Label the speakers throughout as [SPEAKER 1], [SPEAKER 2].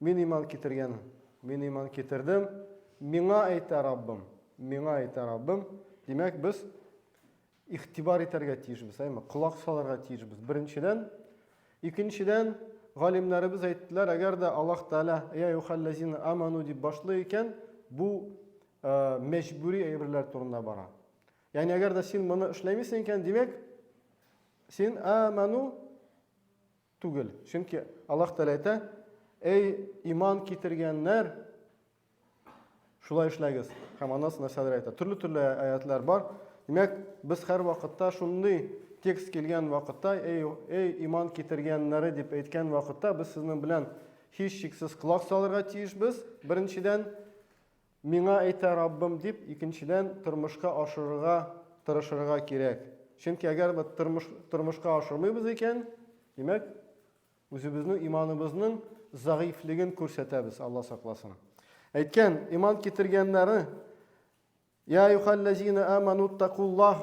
[SPEAKER 1] Мин иман китергән, мин иман китердем, миңа әйтә Раббым, миңа әйтә Раббым. Димәк, без игътибар итәргә тиешбез, әйме, колак салырга тиешбез. Беренчедән, икенчедән, галимнәребез әйттеләр, әгәр дә Аллаһ Тәгалә я юхаллазина аману дип башлый икән, бу э, мәҗбүри әйберләр турында бара. Ягъни әгәр дә син моны эшләмисең икән, димәк, син аману Түгел. Чөнки Аллаһ Тәгалә әйтә, Әй, иман китергәннәр, шулай эшләгез. Һәм аннан нәрсәләр әйтә. Төрле-төрле аятлар бар. Димәк, без һәр вакытта шундый текст килгән вакытта, эй, эй, иман китергәннәре дип әйткән вакытта, без сезнең белән һич шиксез колак салырга тиешбез. Беренчедән, Миңа әйтә Раббым дип, икенчедән, тормышка ашырырга тырышырга кирәк. Чөнки әгәр бит тормыш, тормышка ашырмыйбыз икән, димәк, үзебезнең иманыбызның зәгыйфьлеген күрсәтәбез, Алла сакласын. Әйткән, иман китергәннәре, Я юхаллазина аману такуллах,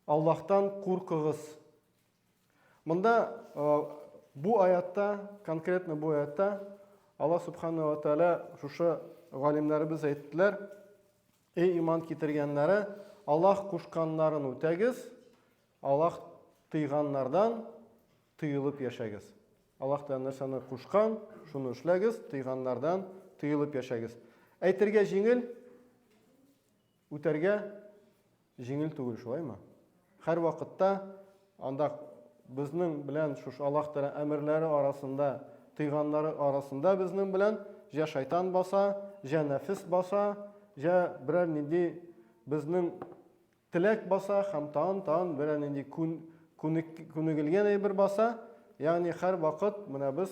[SPEAKER 1] Аллаһтан куркыгыз, Монда бу аятта, конкретно бу аятта Аллаһ субханала ва тааля шушы галимнәребез әйттеләр, эй иман китергәннәре, Аллаһ кушканнарын үтәгез, Аллаһ тыйганнардан тыелып яшәгез. Аллаһ та нәрсәне кушкан, шуны эшләгез, тыйганнардан тыелып яшәгез. Әйтергә җиңел, Үтәргә җиңел түгел, шулаймы? Һәрвакытта анда безнең белән шушы Аллаһ Тәгалә әмерләре арасында, тыйганнары арасында безнең белән җә шайтан баса, җә нәфес баса, җә берәр нинди безнең теләк баса һәм тагын тагын берәр нинди күнегелгән әйбер баса. Ягъни һәрвакыт менә без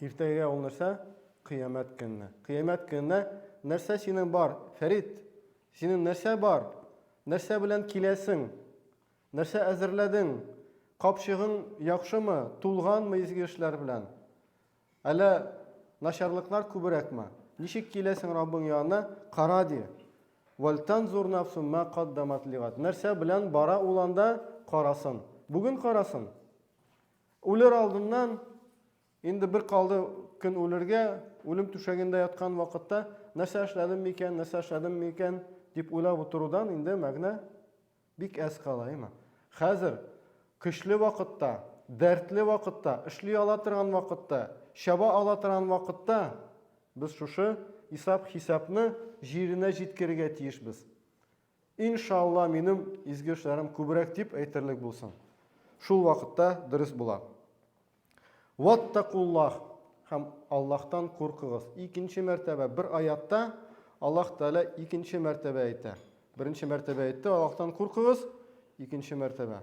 [SPEAKER 1] Иртәгә ул нәрсә? Кыямәт көнне. Кыямәт көнне нәрсә синең бар? Фәрит, синең нәрсә бар? Нәрсә белән киләсең? Нәрсә әзерләдең? Капчыгың яхшымы? Тулганмы изге эшләр белән? Әллә начарлыклар күбрәкме? Ничек киләсең Раббың янына? Кара ди. Вальтанзур нафсун ма каддамат лигат. Нәрсә белән бара ул анда? Карасын. Бүген карасын. Үлер алдыннан, инде бер калды көн үлергә, үлем түшәгендә яткан вакытта, нәрсә эшләдем микән, нәрсә эшләдем микән дип уйлап утырудан инде мәгънә бик әз кала, әйме? Хәзер көчле вакытта, дәртле вакытта, эшли ала торган вакытта, чаба ала торган вакытта без шушы исап-хисапны җиренә җиткерергә тиешбез. Ин ша Алла минем изге эшләрем күбрәк дип әйтерлек булсын. Шул вакытта дөрес була. Ваттакуллах һәм Аллаһтан куркыгыз. Икенче мәртәбә бер аятта Аллаһ Тәгалә икенче мәртәбә әйтә. Беренче мәртәбә әйтте, Аллаһтан куркыгыз, икенче мәртәбә.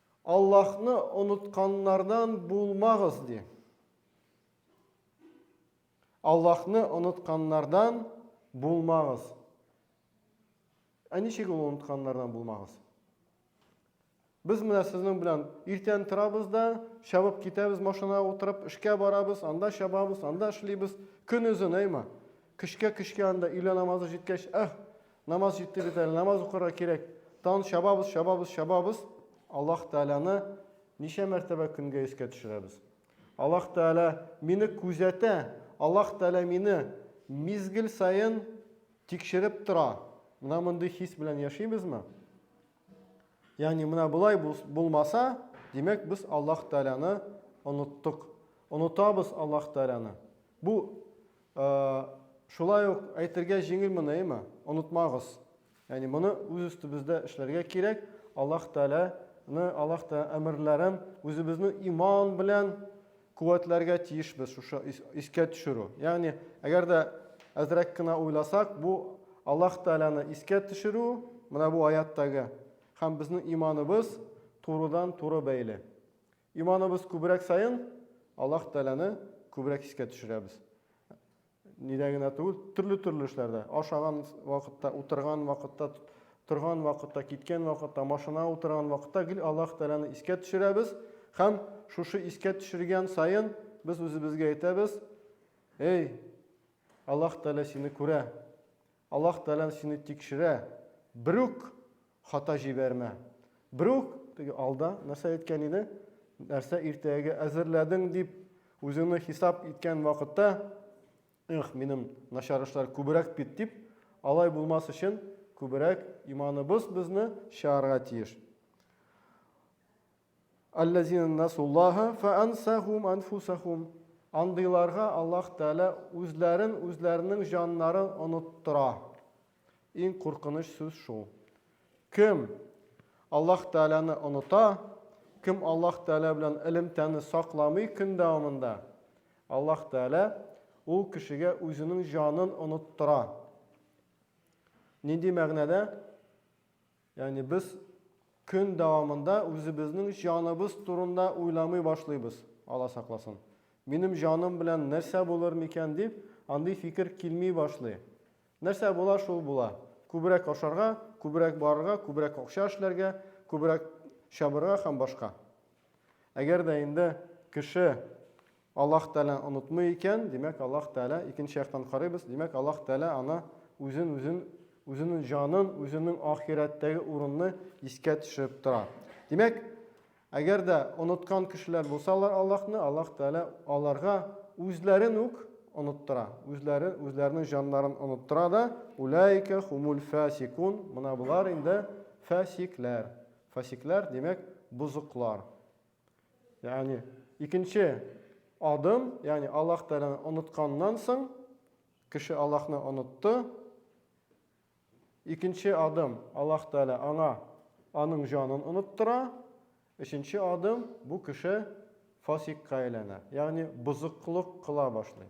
[SPEAKER 1] Аллаһны онытканнардан булмагыз, ди. Аллаһны онытканнардан булмагыз. Ә ничек ул онытканнардан булмагыз? Без менә сезнең белән иртән торабыз да, чабып китәбез машина утырып, эшкә барабыз, анда чабабыз, анда эшлибез. Көн үзен, әйма. Кешкә-кешкә анда өйлә намазы җиткәч, әх, Намаз җитте бит әле, намаз укырга кирәк. Тан чабабыз, чабабыз, чабабыз. Аллаһ Тәгаләне ничә мәртәбә көнгә искә төшерәбез? Аллаһ Тәгалә мине күзәтә, Аллаһ Тәгалә мине мизгел саен тикшереп тора. Менә мондый хис белән яшибезме? Ягъни менә болай булмаса, димәк, без Аллаһ Тәгаләне оныттык. Онытабыз Аллаһ Тәгаләне. Бу Шулай ук әйтергә җиңел моны, әйме? Онытмагыз. Ягъни моны үз өстебездә эшләргә кирәк. Аллаһ Тәгаләне, Аллаһ Тәгалә әмерләрен үзебезне иман белән куәтләргә тиешбез, шушы искә төшерү. Ягъни, әгәр дә әзрәк кенә уйласак, бу Аллаһ Тәгаләне искә төшерү, менә бу аяттагы, һәм безнең иманыбыз турыдан-туры бәйле. Иманыбыз күбрәк саен Аллаһ Тәгаләне күбрәк искә төшерәбез. Нидә генә түгел, төрле-төрле эшләрдә. Ашаган вакытта, утырган вакытта, торган вакытта, киткән вакытта, машина утырган вакытта гел Аллаһ Тәгаләне искә төшерәбез һәм шушы искә төшергән саен без үзебезгә әйтәбез, Эй, Аллаһ Тәгалә сине күрә. Аллаһ Тәгалә сине тикшерә. Берүк Хата җибәрмә. Берүк теге алда нәрсә әйткән иде? Нәрсә иртәгә әзерләдең дип үзеңне хисап иткән вакытта, эх, минем начар эшләр күбрәк бит дип, алай булмас өчен күбрәк иманыбыз безне чыгарга тиеш. Аллазина насуллаха фаансахум анфусахум. Андыйларга Аллаһ Тәгалә үзләрен, үзләренең җаннарын оныттыра. Иң куркыныч сүз шул. Кем Аллаһ Тәгаләне оныта, кем Аллаһ Тәгалә белән элемтәне сакламый көн дәвамында, Аллаһ Тәгалә ул кешегә үзенең җанын оныттыра. Нинди мәгънәдә? Ягъни без көн дәвамында үзебезнең җаныбыз турында уйламый башлыйбыз, Алла сакласын, минем җаным белән нәрсә булыр микән дип, андый фикер килми башлый. Нәрсә була, шул була. Күбрәк ашарга, күбрәк барырга, күбрәк акча эшләргә, күбрәк чабырга һәм башка. Әгәр дә инде кеше Аллаһ Тәгалә онытмый икән, димәк, Аллаһ Тәгалә, икенче яктан карыйбыз, димәк, Аллаһ Тәгалә аны, үзен, үзен, үзенең җанын, үзенең ахирәттәге урынны искә төшереп тора. Димәк, әгәр дә оныткан кешеләр булсалар Аллаһны, Аллаһ Тәгалә аларга үзләрен үк оныттыра. Үзләре, үзләренең җаннарын оныттыра да, уләйкә хумул фасикун, мына болар инде фасикләр. Фасикләр, димәк, бозыклар. Ягъни икенче адым, ягъни Аллаһ Тәгаләне онытканнан соң кеше Аллаһны онытты. Икенче адым Аллаһ Тәгалә аңа аның җанын оныттыра. Өченче адым бу кеше фасикка әйләнә, ягъни бозыклык кыла башлый.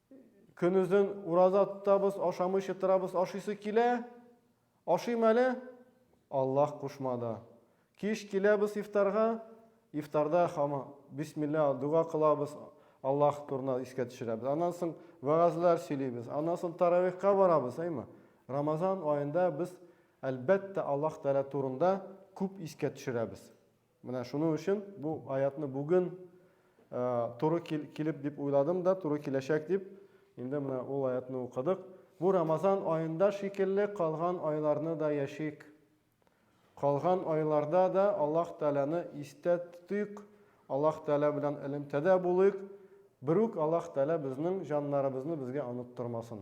[SPEAKER 1] Көнозен ураза тотабыз, ашамыйча торабыз, ашыйсы килә, ашыйм әле, Аллаһ кушмады. Кич киләбез ифтарга, ифтарда хама бисмилла дога кылабыз, Аллаһ турына искә төшерәбез. Аннан соң вәгазьләр сөйлибез, аннан соң таравихка барабыз, әйме? Рамазан аенда без, әлбәттә, Аллаһ Тәгалә турында күп искә төшерәбез. Менә шуның өчен бу аятны бүген туры килеп дип уйладым да, туры киләчәк дип, инде менә ул аятны укыдык. Бу Рамазан аенда шикелле калган айларны да яшик. Калган айларда да Аллаһ Тәгаләне истә тотыйк, Аллаһ Тәгалә белән элемтәдә булыйк. Берүк Аллаһ Тәгалә безнең җаннарыбызны безгә оныттырмасын.